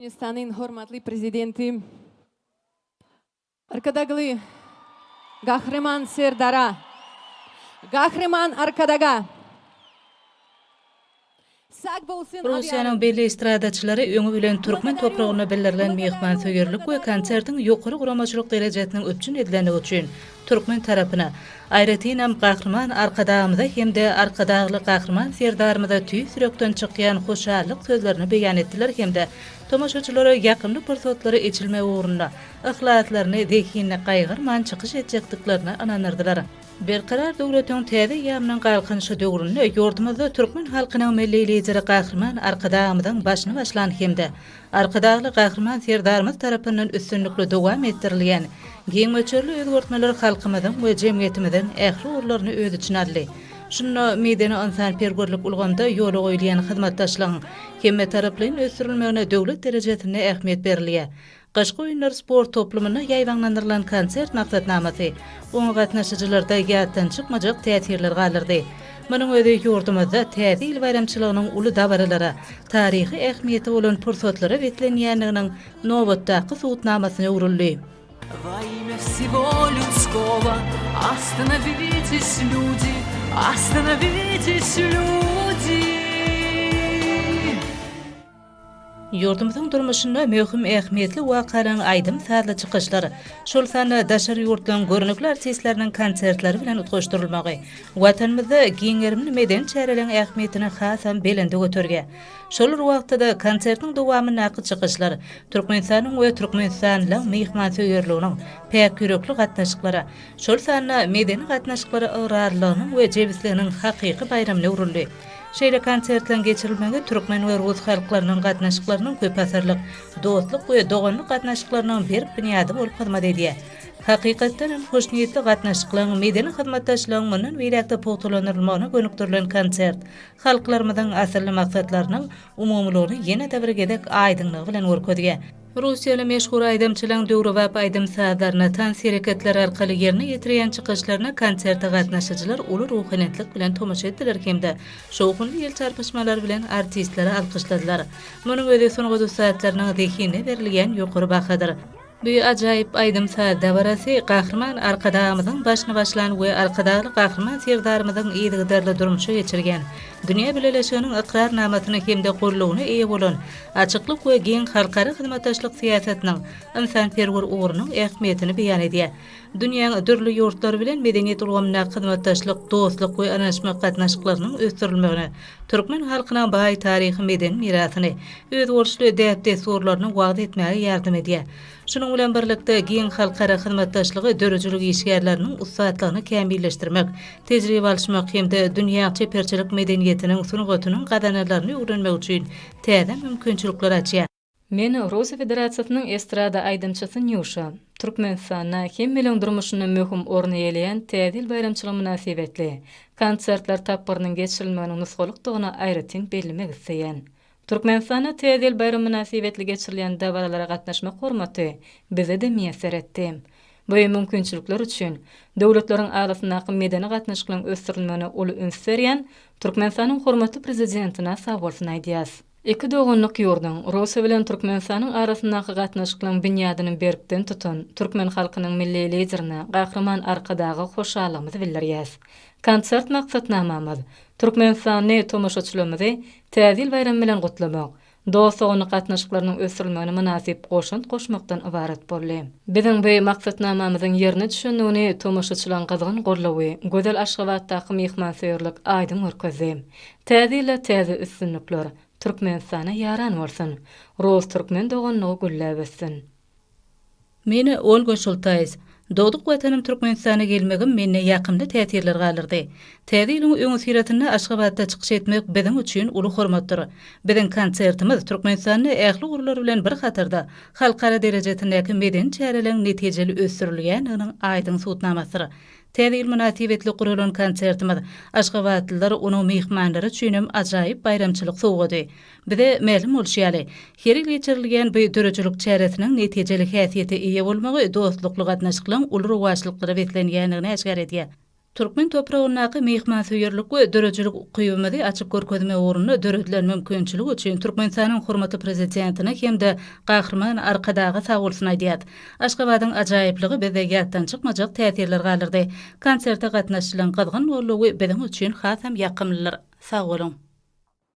Türkmenistanyň hormatly Prezidenti Arkadagly Gahryman Serdara, Gahryman Arkadaga sag bolsun aýdýaryn. Russiýanyň belli estradaçylary öňi bilen türkmen topragyna bildirilen myhmansöýerlik we konsertiň ýokary guramaçylyk derejesiniň üpjün edilendigi üçin Türkmen tarapyna, aýratynam Gahryman Arkadagymyza hem-de Arkadagly Gahryman Serdarymyza tüýs ýürekden çykýan hoşallyk sözlerini beýan etdiler hem-de tomaşaçylara ýakymly pursatlary eçilmegi ugrunda yhlaslaryny zehinini gaýgyrman çykyş etjekdiklerine ynandyrdylar. Berkarar döwletiň täze eýýamynyň Galkynyşy döwründe ýurdumyzda türkmen halkynyň Milli Lideri Gahryman Arkadagymyzyň başyny başlan hem-de Arkadagly Gahryman Serdarymyz tarapyndan üstünlikli dowam etdirilýän giň möçberli özgertmeler halkymyzyň we jemgyýetimiziň ähli ugurlaryny öz içine aldy. Şunda medeni-ynsanperwerlik ulgamda ýola goýulýan hyzmatdaşlygyň hemmetaraplaýyn ösdürilmegine döwlet derejesinde ähmiýet berilýär. Gyşky oýunlar sport toplumynda ýaýbaňlandyrylan konsert maksatnamasy oňa gatnaşyjylarda ýatdan çykmajak täsirler galdyrdy. Munuň özi ýurdumyzda Täze ýyl baýramçylygynyň uly dabaralara, taryhy ähmiýeti bolan pursatlara beslenýändiginiň nobatdaky subutnamasyna öwrüldi. Ýurdumyzyň durmuşynda möhüm ähmiýetli wakalaryň aýdym-sazly çykyşlar, şol sanda daşary ýurtlaryň görnükli artistleriniň konsertleri bilen utgaşdyrylmagy, Watanymyzda giň gerimli medeni çäreleriň ähmiýetini hasam belende göterýär. Şol bir wagtda-da, konsertiň dowamyndaky çykyşlar Türkmenistanyň we türkmenistanlylaryň myhmansöýerliginiň, päk ýürekli gatnaşyklara, şol sanda medeni gatnaşyklara ygrarlylygynyň we jebisliginiň hakyky baýramyna öwrüldi. Şeýle konsertleriň geçirilmegi türkmen we rus halklarynyň gatnaşyklarynyň köpasyrlyk dostluk we doganlyk gatnaşyklarynyň berk binýady bolup hyzmat edýär. Hakykatdan hem, hoşniýetli gatnaşyklaryň, medeni hyzmatdaşlygyň mundan beýläk-de pugtalandyrylmagyna gönükdirilen konsert, halklarymyzyň asylly maksatlarynyň umumylygyny ýene-de bir gezek aýdyňlygy bilen görkezýär. Russiýaly meşhur aýdymçylaryň döwrebap aýdym-sazlaryna, tans hereketleri arkaly ýerine ýetirýän çykyşlaryna konserte gatnaşyjylar uly ruhylentlik bilen tomaşa etdiler hem-de şowhunly el çarpyşmalary bilen artistleri alkyşladylar. Munuň özi sungat ussatlarynyň zehinine berilýän ýokary bahadyr. Bu ajaýyp aýdym-saz dabarasy Gahryman Arkadagymyzyň başyny başlan we Arkadagly Gahryman Serdarymyzyň yzygiderli durmuşa geçirýän, dünýä bileleşiginiň ykrarnamasyna hem-de gollugyna eýe bolan açyklyk we giň halkara hyzmatdaşlyk syýasatynyň ynsanperwer ugrunyň ähmiýetini beýan edýär. Dünýäň dürli ýurtlary bilen medeniýet ulgamyndaky hyzmatdaşlyk, dostluk we ynanyşmak gatnaşyklarynyň ösdürilmegine, türkmen halkynyň baý taryhy-medeni mirasyny, özboluşly däp-dessurlaryny wagyz etmäge ýardam edýär. Şunuň bilen birlikde, giň halkara hyzmatdaşlygy döredijilik işgärleriniň ussatlygyny kämilleşdirmek, tejribe alyşmak hem-de dünýä çeperçilik medeniýetiniň, sungatynyň gazananlaryny öwrenmek üçin täze mümkinçilikleri açýar. Men Russiýa Federasiýasynyň estrada aýdymçysy Nýuşa. Türkmenistanda hemmeleň durmuşynda möhüm orun eýeleýän Täze ýyl baýramçylygy mynasybetli konsertler tapgyrynyň geçirilmeginiň nusgalykdygyny aýratyn bellemek isleýän. Türkmenistanda Täze ýyl baýramy mynasybetli geçirilýän dabaralara gatnaşmak hormaty bize-de miýesser etdi. Bu mümkinçilikler üçin döwletleriň arasyndaky medeni gatnaşyklaryň ösdürilmegine uly üns berýän Türkmenistanyň hormatly Prezidentine sag bolsun aýdýas. Iki doganlyk ýurduň, Russiýa bilen Türkmenistanyň arasyndaky gatnaşyklaryň binýadyny berkden tutan türkmen halkynyň Milli Liderine, Gahryman Arkadaga hoşallygymyzy bildirýäs. Konsert maksatnamamyz, türkmenistanly tomaşaçylarymyzy Täze ýyl baýramy bilen gutlamak, dost-doganlyk gatnaşyklarynyň ösdürilmegine mynasyp goşant goşmakdan ybarat boldy. Biziň bu maksatnamamyzyň ýerine düşendigini tomaşaçylaryň gyzgyn gollawy, gözel Aşgabatdaky myhmansöýerlik aýdyň görkezdi. Täze ýyla täze üstünlikler, Türkmenistana ýaran bolsun! Rus-türkmen doganlygy gülläp össün! Men Olga Şultaýs. Dogduk watanym Türkmenistana gelmegim mende ýakymly täsirler galdyrdy. Täze ýylyň öňüsyrasynda Aşgabatda çykyş etmek biziň üçin uly hormatdyr. Biziň konsertimiz Türkmenistanda ähli ugurlar bilen bir hatarda halkara derejesindäki medeni çäreleň netijeli ösdürilýändiginiň aýdyň subutnamasydyr, Täze ýyl mynasybetli guralan konsertimiz, aşgabatlylar, onuň myhmanlary üçin hem ajaýyp baýramçylyk sowgady. Bize mälim bolşy ýaly, her ýyl geçirilýän bu döredijilik çäresiniň netijeli häsiýete eýe bolmagy dostlukly gatnaşyklaryň uly rowaçlyklara beslenýändigini äşgär edýär. Türkmen topragyndaky myhmansöýerlik we döredijilik ukybymyzy açyp görkezmek ugrunda döredilen mümkinçilik üçin Türkmenistanyň hormatly Prezidentine hem-de Gahryman Arkadaga sagbolsun aýdýarys. Aşgabadyň ajaýyplygy bizde ýatdan çykmajak täsirler galdyrdy. Konserte gatnaşylan gyzgyn gollugy biziň üçin hasam ýakymlydyr. Sag boluň!